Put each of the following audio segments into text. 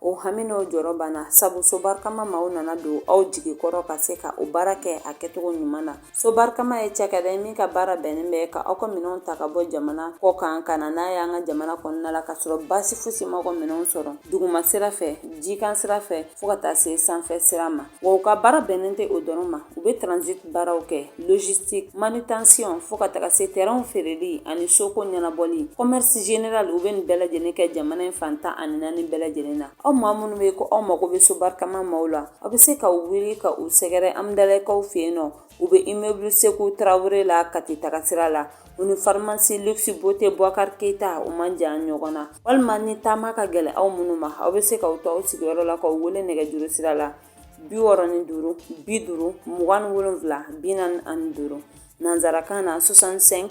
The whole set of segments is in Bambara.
o hami n'o jɔrɔ banna sabu so barikama maaw nana don aw jigi kɔrɔ ka se ka o baara kɛ a kɛcogo ɲuman na so barikama ye cakɛda ye min ka baara bɛnnen bɛ ka aw ka minɛnw ta ka bɔ jamana kɔ kan ka na n'a y'an ka jamana kɔnɔna la ka sɔrɔ baasi fosi ma aw ka minɛnw sɔrɔ duguma sira fɛ jikan sira fɛ fɔɔ ka taa se sanfɛ sira ma Wa u ka baara bɛnnen tɛ o dɔrɔn ma u bɛ transit baaraw kɛ logistique manutention fo ka taga se terrainw feereli ani soko ɲɛnabɔli commerce général u bɛ nin bɛɛ lajɛlen kɛ jamana in fan tan ani naani bɛɛ lajɛlen na aw maa minnu bɛ ko aw mago bɛ sobarikama maaw la aw bɛ se ka wuli ka u sɛgɛrɛ Amdalayikaw fɛ yen nɔ U bɛ immeuble Sekou Traore la Kati tagasira la, u ni pharmacie luxe beauté Bouakar Keita u man jan ɲɔgɔn na, walima ni taama ka gɛlɛn aw minnu ma, aw bɛ se k'aw to aw sigiyɔrɔ la k'u wele nɛgɛjuru sira la 65 50 27 45 nanzarakan na 65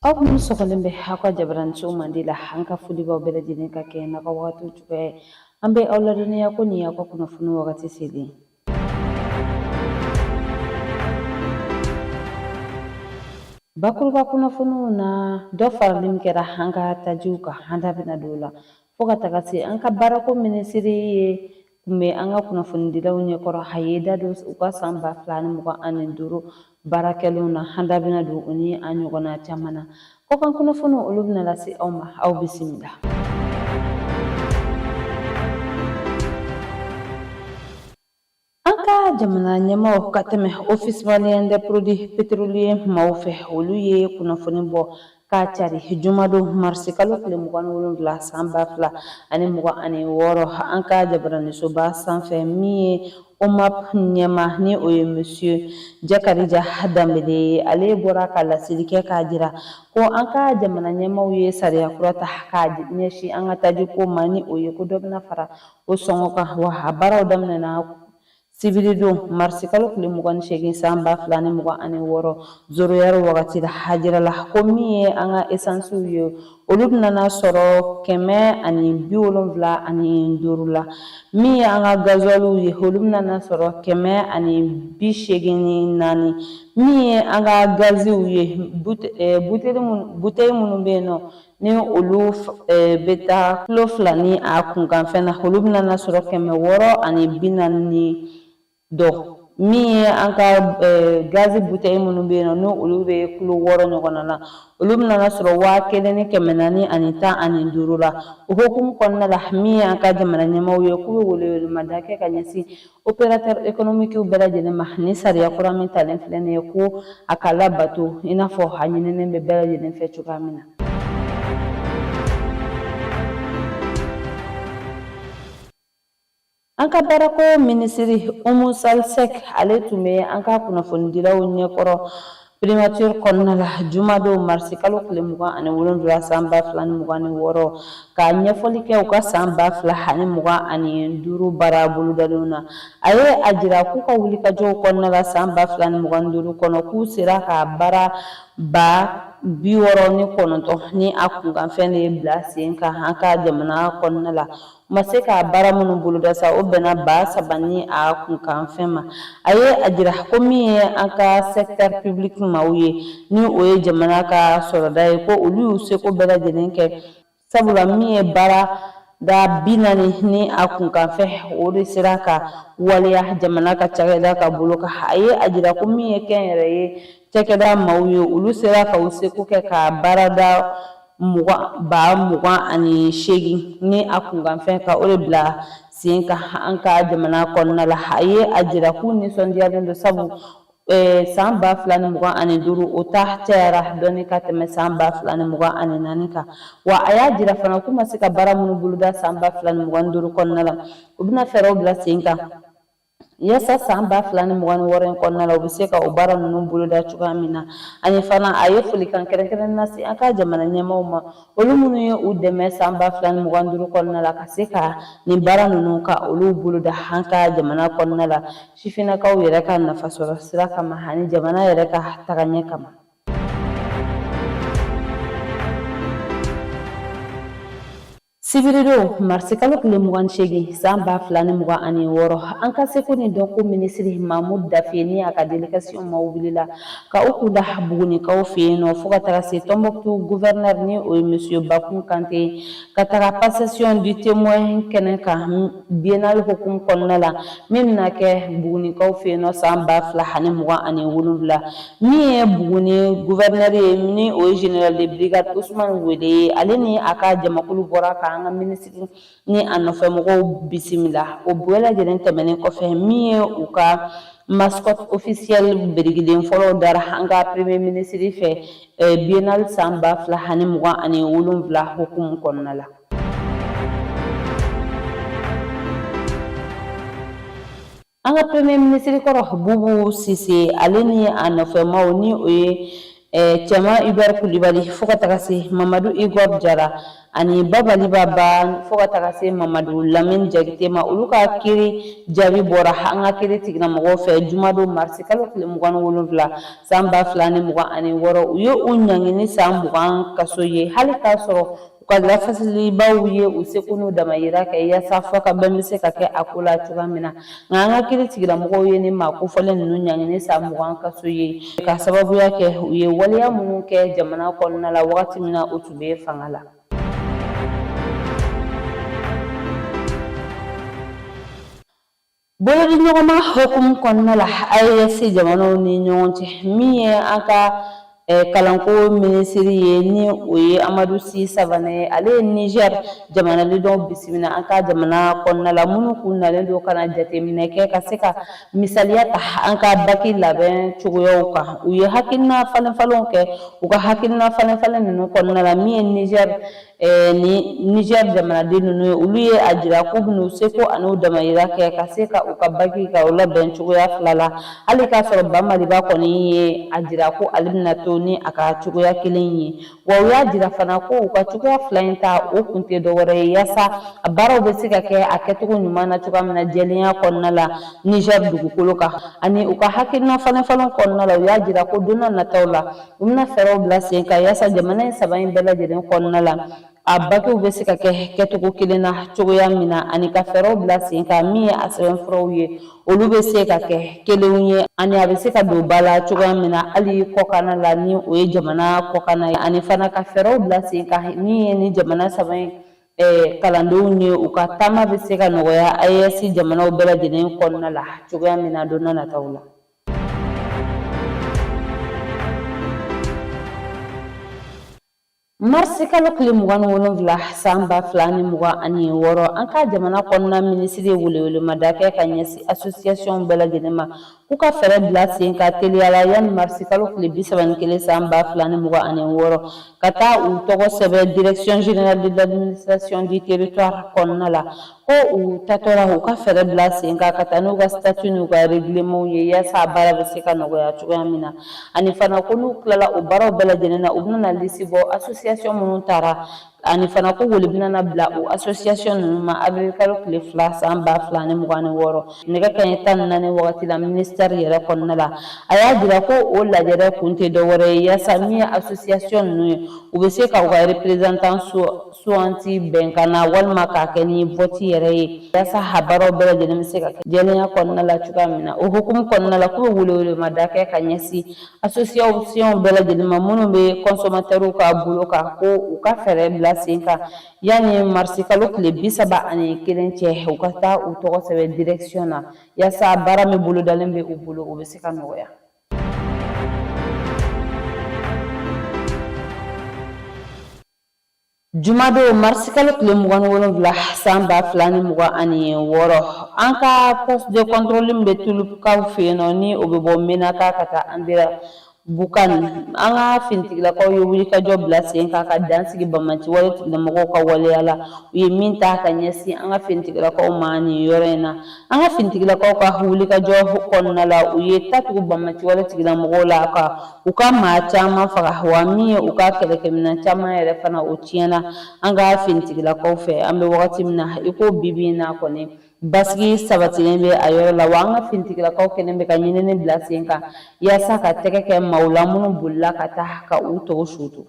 aw minnu sɔgɔlen bɛ aw ka jabaraniso Mande la an ka foli b'aw bɛɛ lajɛlen ka kɛ n'aw ka wagatiw cogoya ye an bɛ aw ladɔnniya ko nin y'aw ka kunnafoni wagati selen ye bakuruba kunnafoniw na dɔ farali min kɛra an ka tajiw kan an da bɛna don o la fo ka taga se an ka baarako minisiri ye tun bɛ an ka kunnafonidilaw ɲɛkɔrɔ a ye da don u ka san ba fila ni mugan ani duuru baara kɛlenw na an da bɛna don o ni a ɲɔgɔnna caman na kɔkan kunnafoniw olu bɛna lase aw ma aw bisimila An ka jamana ɲɛmaaw ka tɛmɛ office malien des produits pétroliers maaw fɛ olu ye kunnafoni bɔ k'a cari jumadon marisikalo tile 27 san ba fila ani mugan ani wɔɔrɔ an ka jabaranisoba sanfɛ min ye OMAP ɲɛmaa ni o ye monsieur Jakarija Danbele ye ale bɔra ka laseli kɛ k'a jira ko an ka jamana ɲɛmaaw ye sariya kura ta k'a ɲɛsin an ka tajiko ma ni o ye ko dɔ bɛna fara o sɔngɔ kan wa a baaraw daminɛna sibiridon marisi kalo tile mugan ni seegin san ba fila ni mugan ani wɔɔrɔ zéro heure wagati la a jirala ko min ye an ka esansiw ye olu bɛna sɔrɔ kɛmɛ ani bi wolonwula ani duuru la min ye an ka gazɔliw ye olu bɛna sɔrɔ kɛmɛ ani bi seegin ni naani min ye an ka gaziw ye buteli minnu bɛ yen nɔ ni olu bɛ taa kulo fila ni a kunkanfɛn na olu bɛna na sɔrɔ kɛmɛ wɔɔrɔ ani bi naani ni dɔ min ye an ka gazi butɛyi minnu bɛ yen nɔ ni olu bɛ kulo wɔɔrɔ ɲɔgɔnna na olu bɛna na sɔrɔ waa kelen ni kɛmɛ naani ani tan ani duuru la o hukumu kɔnɔna la min ye an ka jamana ɲɛmaaw ye k'u bɛ welewelemada kɛ ka ɲɛsin Opérateur économique bɛɛ lajɛlen ma ni sariya kura min talen filɛ nin ye ko a ka labato i n'a fɔ a ɲininen bɛ bɛɛ lajɛlen fɛ cogoya min na. An ka baarako minisiri Umu Sali Sɛk ale tun bɛ an ka kunnafonidilaw ɲɛkɔrɔ Primature kɔnɔna la jumadon marisi kalo tile mugan ani wolonwula san ba fila ni mugan ni wɔɔrɔ ka ɲɛfɔli kɛ u ka san ba fila ani mugan ani duuru baara bolodalenw na a ye a jira k'u ka wulikajɔw kɔnɔna la san ba fila ni mugan ni duuru kɔnɔ k'u sera ka baara ba bi wɔɔrɔ ni kɔnɔntɔn ni a kunkanfɛn de ye bila sen kan an ka jamana kɔnɔna la U ma se ka baara minnu boloda sa o bɛnna ba saba ni a kunkanfɛn ma a ye a jira ko min ye an ka secteur public maaw ye ni o ye jamana ka sɔrɔda ye ko olu y'u seko bɛɛ lajɛlen kɛ sabula min ye baarada bi naani ni a kunkanfɛn o de sera ka waleya jamana ka cakɛda ka bolo kan a ye a jira ko min ye kɛnyɛrɛye cakɛda maaw ye olu sera ka u seko kɛ ka baarada mugan ba mugan ani seegin ni a kunkanfɛn ka o de bila sen kan an ka jamana kɔnɔna la a ye a jira k'u nisɔndiyalen don sabu Eh, san ba fila ni mugan ani duuru o ta cayara dɔɔni ka tɛmɛ san ba fila ni mugan ani naani kan wa a y'a jira fana k'u ma se ka baara minnu boloda san ba fila ni mugan ni duuru kɔnɔna la u bɛna fɛɛrɛw bila sen kan Yasa san ba fila ni mugan ni wɔɔrɔ in kɔnɔna la u bɛ se ka o baara ninnu boloda cogoya min na ani fana a ye folikan kɛrɛnkɛrɛn lase an ka jamana ɲɛmaaw ma olu minnu ye u dɛmɛ san ba fila ni mugan duuru kɔnɔna la ka se ka nin baara ninnu ka olu boloda an ka jamana kɔnɔna la sifinnakaw yɛrɛ ka nafasɔrɔ sira kama ani jamana yɛrɛ ka tagaɲɛ kama Sibiridon marisikalo tile mugan ni seegin san ba fila ni mugan ani wɔɔrɔ an ka seko ni dɔnko minisiri Mamu Dafe ni a ka délégation maaw wulila ka u kunda bugunikaw fɛ yen nɔ fo ka taga se Tombouctou gouverneur ni o ye monsieur Bakun Kante ka taga passation du témoin kɛnɛ kan biennale hukumu kɔnɔna la min bɛna kɛ bugunikaw fɛ yen nɔ san ba fila ani mugan ani wolonwula Min ye Buguni gouverneur ye ni o ye général de brigade Ousmane Wele ye ale ni a ka jamakulu bɔra ka an ka minisiri ni a nɔfɛ mɔgɔw bisimila o bɛɛ lajɛlen tɛmɛnen kɔfɛ min ye u ka mascotte officielle birikiden fɔlɔ dara an ka premier minisiri fɛ eh, biennale san ba fila ani mugan ani wolonwula hukumu kɔnɔna la An ka premier minisiri kɔrɔ Bubu Sise ale ni a nɔfɛmaw ni o ye eh, Cɛman Hubert Kulibali fo ka taga se Mamadu Igor Jara ani Babali Ba Ba fo ka taga se Mamadu Lamini Jakite ma olu ka kiri jaabi bɔra an ka kiri tigilamɔgɔw fɛ jumadon marisi kalo tile mugan ni wolonwula san ba fila ni mugan ani wɔɔrɔ u ye u ɲangini san mugan kaso ye hali k'a sɔrɔ U ka lafasalibaw ye u seko n'u damayira kɛ yaasa fɔkabɛn bɛ se ka kɛ a ko la cogoya min na nka an ka kiri tigilamɔgɔw ye ni maa kofɔlen ninnu ɲangini san mugan kaso ye ka sababuya kɛ u ye waleya minnu kɛ jamana kɔnɔna la wagati min na u tun bɛ fanga la Bolodiɲɔgɔnma hukumu kɔnɔna la AES jamanaw ni ɲɔgɔn cɛ min ye an ka kalanko minisiri ye ni o ye Amadu Si Savane ye ale ye Nizɛri jamanaden dɔw bisimila an ka jamana kɔnɔna la minnu k'u nalen don ka na jateminɛ kɛ ka se ka misaliya ta an ka baki labɛn cogoyaw kan u ye hakilina falenfalenw kɛ u ka hakilina falenfalen ninnu kɔnɔna la min ye Nizɛri ni Nizɛri jamanaden ninnu ye olu ye a jira k'u bɛn'u seko an'u damayira kɛ ka se ka u ka baki ka u labɛn cogoya fila la hali k'a sɔrɔ ba Maliba kɔni ye a jira ko ale bɛna to ni a ka cogoya kelen ye wa u y'a jira fana ko u ka cogoya fila in ta o kun tɛ dɔwɛrɛ ye yaasa a baaraw bɛ se ka kɛ a kɛcogo ɲuman na cogoya min na jɛlenya kɔnɔna la Nizɛri dugukolo kan ani u ka hakilina falenfalen kɔnɔna la u y'a jira ko don n'a nataw la U bɛna fɛɛrɛw bila sen kan yaasa jamana in saba in bɛɛ lajɛlen kɔnɔna la a bakiw bɛ se ka kɛ kɛcogo kelen na cogoya min na ani ka fɛɛrɛw bila sen kan min ye a sɛbɛnfuraw ye olu bɛ se ka kɛ kelenw ye ani a bɛ se ka don ba la cogoya min na hali kɔkanna la ni o ye jamana kɔkanna ye ani fana ka fɛɛrɛw bila sen kan min ye ni jamana saba in eh, kalandenw ye u ka taama bɛ se ka nɔgɔya AES jamanaw bɛɛ lajɛlen kɔnɔna la cogoya min na don n'a nataw la. marisi kalo tile mugan ni wolonwula san ba fila ni mugan ani wɔɔrɔ an ka jamana kɔnɔna minisiri ye welewelemada kɛ ka ɲɛsin asosiyasiyɔnw bɛɛ lajɛlen ma k'u ka fɛɛrɛ bila sen kan teliya la yanni marisi kalo tile bi saba ni kelen san ba fila ni mugan ani wɔɔrɔ ka taa u tɔgɔ sɛbɛn direction générale de l'administration du territoire kɔnɔna la ko u tatɔ la u ka fɛɛrɛ bila sen kan ka taa n'u ka sitati n'u ka regilemanw ye yaasa baara bɛ se ka nɔgɔya cogoya min na ani fana ko n'u tilala o baaraw bɛɛ lajɛlen na u bɛna lisi bɔ asosiyasiyɔn minnu taara ani fana ko wele bɛna na bila o asosiyasiyɔn ninnu ma awirili kalo tile fila san ba fila ni mugan ni wɔɔrɔ nɛgɛ kanɲɛ tan ni naani wagati la minisitɛri yɛrɛ kɔnɔna la a y'a jira ko o lajɛrɛ kun tɛ dɔwɛrɛ ye yaasa min ye asosiyasiyɔn ninnu ye u bɛ se ka u ka reperezantan suganti bɛnkan na walima k'a kɛ ni voti yɛrɛ ye yasa a baaraw bɛɛ lajɛlen bɛ se ka kɛ jɛlenya kɔnɔna la cogoya min na o hukumu kɔnɔna la k'u bɛ welewelemada kɛ ka ɲɛsin asosiyasiɔnw bɛɛ lajɛlen ma minnu bɛ kɔnsɔmatɛriw ka bolo kan ko u ka fɛɛrɛ bila sen kan yanni marisikalo tile bi saba ani kelen cɛ u ka taa u tɔgɔ sɛbɛn direksiyɔn na yasa baara min bolodalen bɛ u bolo o bɛ se ka nɔgɔya Jumadon marisikalo tile mugan ni wolonwula san ba fila ni mugan ani wɔɔrɔ an ka poste de contrôle bɛ tulukaw fɛ yen nɔ ni o bɛ bɔ mɛnaka ka taa Anderanbukan an ka finitigilakaw ye wulikajɔ bila sen kan ka dan sigi banbaanci wale tigilamɔgɔw ka waleya la u ye min ta ka ɲɛsin an ka finitigilakaw ma nin yɔrɔ in na An ka finitigilakaw ka wulikajɔ kɔnɔna la u ye tatugu banbaanci wale tigilamɔgɔw la ka u ka maa caman faga wa min ye u ka kɛlɛkɛminɛn caman yɛrɛ fana o tiɲɛna na an ka finitigilakaw fɛ an bɛ wagati min na i ko bi bi in na kɔni basigi sabatilen bɛ a yɔrɔ la wa an ka finitigilakaw kɛlen bɛ ka ɲinini bila sen kan yaasa ka tɛgɛ kɛ maaw la minnu bolila ka taa ka u dogo sutu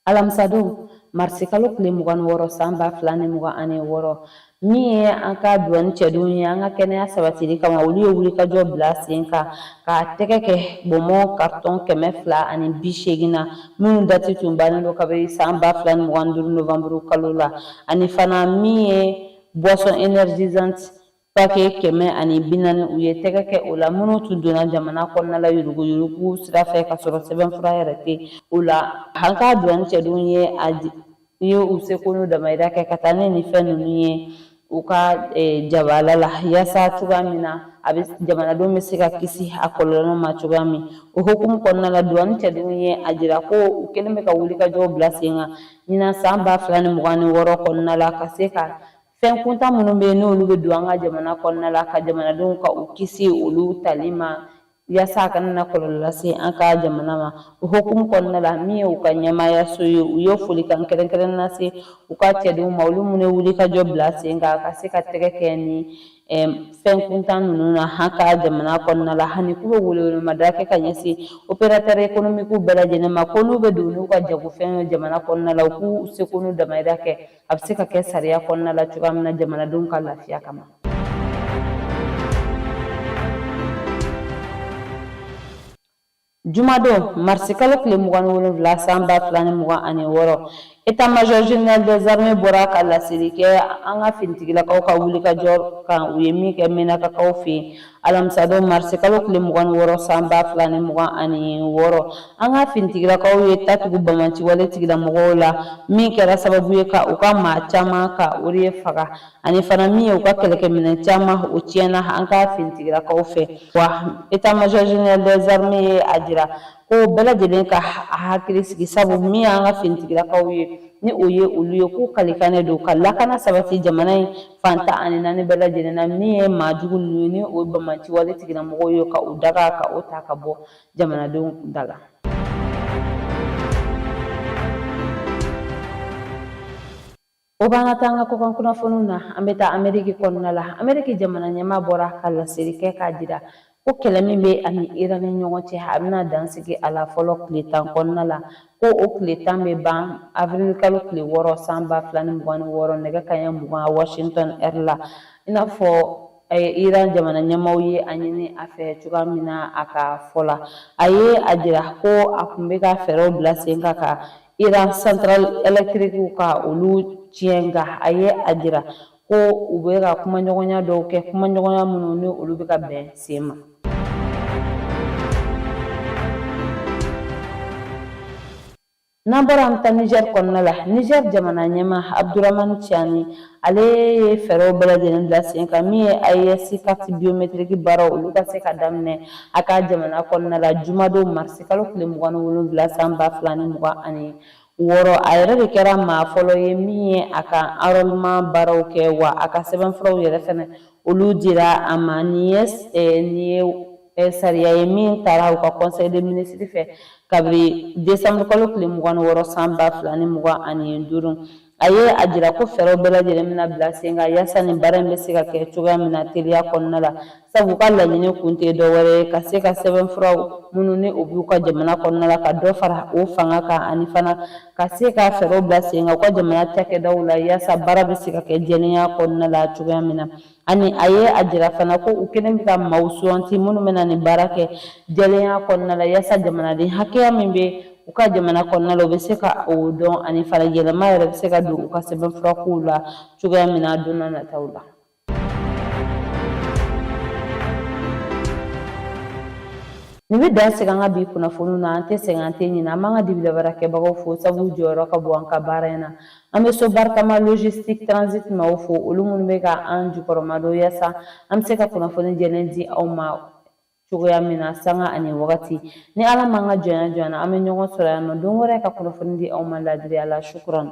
alamisadon marisikalo tile mugan ni wɔɔrɔ san ba fila ni mugan ani wɔɔrɔ min ye an ka duwani cɛdenw ye an ka kɛnɛya sabatili kama olu ye wulikajɔ bila sen kan ka tɛgɛ kɛ bɔnbɔn karitɔn kɛmɛ fila ani bi seegin na minnu dati tun bannen don kabini san ba fila ni mugan ni duuru novanburu kalo la ani fana min ye boisson énergisante Pake kɛmɛ ani bi naani u ye tɛgɛ kɛ o la minnu tun donna jamana kɔnɔna la yuruguyurugu sira fɛ ka sɔrɔ sɛbɛnfura yɛrɛ tɛ o la an ka duwani cɛdenw ye a i ye u seko n'u damayira kɛ ka taa ni nin fɛn ninnu ye u ka eh, jabala la yaasa cogoya min na a bɛ jamanadenw bɛ se ka kisi a kɔlɔlɔ ma cogoya min o hukumu kɔnɔna la duwani cɛdenw ye a jira ko u kɛlen bɛ ka wulikajɔw bila sen kan ɲinan san ba fila ni mugan ni wɔɔrɔ kɔnɔna la ka se ka Fɛn kuntan minnu bɛ yen n'olu bɛ don an ka jamana kɔnɔna la ka jamanadenw ka u kisi olu tali ma yasa a kana na kɔlɔlɔ lase an ka jamana ma o hukumu kɔnɔna la min ye u ka ɲɛmaayaso ye u ye folikan kɛrɛnkɛrɛnnen lase u ka cɛdenw ma olu minnu ye wulikajɔ bila sen kan ka se ka tɛgɛ kɛ nin fɛn kuntan ninnu na an ka jamana kɔnɔna la ani k'u bɛ welewelemada kɛ ka ɲɛsin operatɛri ekonomikiw bɛɛ lajɛlen ma ko n'u bɛ don n'u ka jagofɛn ye jamana kɔnɔna la u k'u seko n'u damayira kɛ a bɛ se ka kɛ sariya kɔnɔna la cogoya min na jamanadenw ka lafiya kama Jumadon marisikalo tile mugan ni wolonwula san ba fila ni mugan ani wɔɔrɔ état-major général des armées bɔra ka laseli kɛ an ka finitigilakaw ka wulikajɔ kan u ye min kɛ mɛnakakaw fɛ yen alamisadon marisi kalo tile mugan ni wɔɔrɔ san ba fila ni mugan ani wɔɔrɔ an ka finitigilakaw ye ta tugu bamanci wale tigilamɔgɔw la min kɛra sababu ye ka u ka maa caman ka o de faga ani fana min ye u ka kɛlɛkɛminɛn caman o tiɲɛna an ka finitigilakaw fɛ wa état-major général des armées ye a jira Ko bɛɛ lajɛlen ka hakili sigi sabu min y'an ka finitigilakaw ye ni o ye olu ye k'u kalikan de don ka lakana sabati jamana in fan tan ani naani bɛɛ lajɛlen na min ye maa jugu ninnu ye ni o bamanciwale tigilamɔgɔw ye ka u daga ka o ta ka bɔ jamanadenw da la O b'an ka taa an ka kɔkan kunnafoniw na an bɛ taa ameriki kɔnɔna la ameriki jamana ɲɛmaa bɔra ka laseli kɛ k'a jira ko kɛlɛ min bɛ a ni iran ni ɲɔgɔn cɛ a bɛna dan sigi a la fɔlɔ tile tan kɔnɔna la ko o tile tan bɛ ban avril kalo tile wɔɔrɔ san ba fila ni mugan ni wɔɔrɔ nɛgɛ kaɲɛ mugan washington heure la i n'a fɔ iran jamana ɲɛmaaw ye a ɲini a fɛ cogoya min na a ka fɔ la a ye a jira ko a tun bɛ ka fɛɛrɛw bila sen kan ka Iran centrale électriquew ka olu tiɲɛ nka a ye a jira ko u bɛ ka kumaɲɔgɔnya dɔw kɛ kumaɲɔgɔnya minnu ni olu bɛ ka bɛn sen ma n'an bɔra an bɛ taa Niger kɔnɔna la Niger jamana ɲɛmaa Abdourahamane Tiani ale ye fɛɛrɛw bɛɛ lajɛlen bila sen kan min ye AES carte biométrique baaraw olu ka se ka daminɛ a ka jamana kɔnɔna la jumadon marisi kalo tile mugan ni wolonwula san ba fila ni mugan ani wɔɔrɔ a yɛrɛ de kɛra maa fɔlɔ ye min ye a ka enrôlement baaraw kɛ wa a ka sɛbɛnfuraw yɛrɛ fɛnɛ olu dira a ma nin ye eh, nin ye eh, sariya ye min taara u ka conseil des ministres fɛ kabiri décembre kalo tile mugan ni wɔɔrɔ san ba fila ni mugan ani duuru A ye a jira ko fɛɛrɛw bɛɛ lajɛlen bɛna bila sen kan yaasa nin baara in bɛ se ka kɛ cogoya min na teliya kɔnɔna la sabu u ka laɲini kun tɛ dɔwɛrɛ ye ka se ka sɛbɛnfuraw minnu ni o b'u ka jamana kɔnɔna la ka dɔ fara o fanga kan ani fana ka se ka fɛɛrɛw bila sen kan u ka jamana cakɛdaw la yaasa baara bɛ se ka kɛ jɛlenya kɔnɔna la cogoya min na Ani a ye a jira fana ko u kɛlen bɛ ka maaw suganti minnu bɛna nin baara kɛ jɛlenya kɔnɔna la yaasa jamanaden hakɛya min bɛ u ka jamana kɔnɔna la u bɛ se ka o dɔn ani fana yɛlɛma yɛrɛ bɛ se ka don u ka sɛbɛnfurakow la cogoya min na don nataw la. Nin bɛ dan sigi an ka bi kunnafoniw na an tɛ sɛgɛn an tɛ ɲinɛ an b'an ka dibila baarakɛbagaw fo sabu u jɔyɔrɔ ka bon an ka baara in na An bɛ so barikama logistique transit maaw fo olu minnu bɛ ka an jukɔrɔmadon yasa an bɛ se ka kunnafoni jɛlen di aw ma cogoya min na sanga ani wagati ni ala m'an ka jɔnya jɔyana an bɛ ɲɔgɔn sɔrɔ yan nɔ don wɛrɛ ka kunnafoni di aw ma laadiriya la sukuran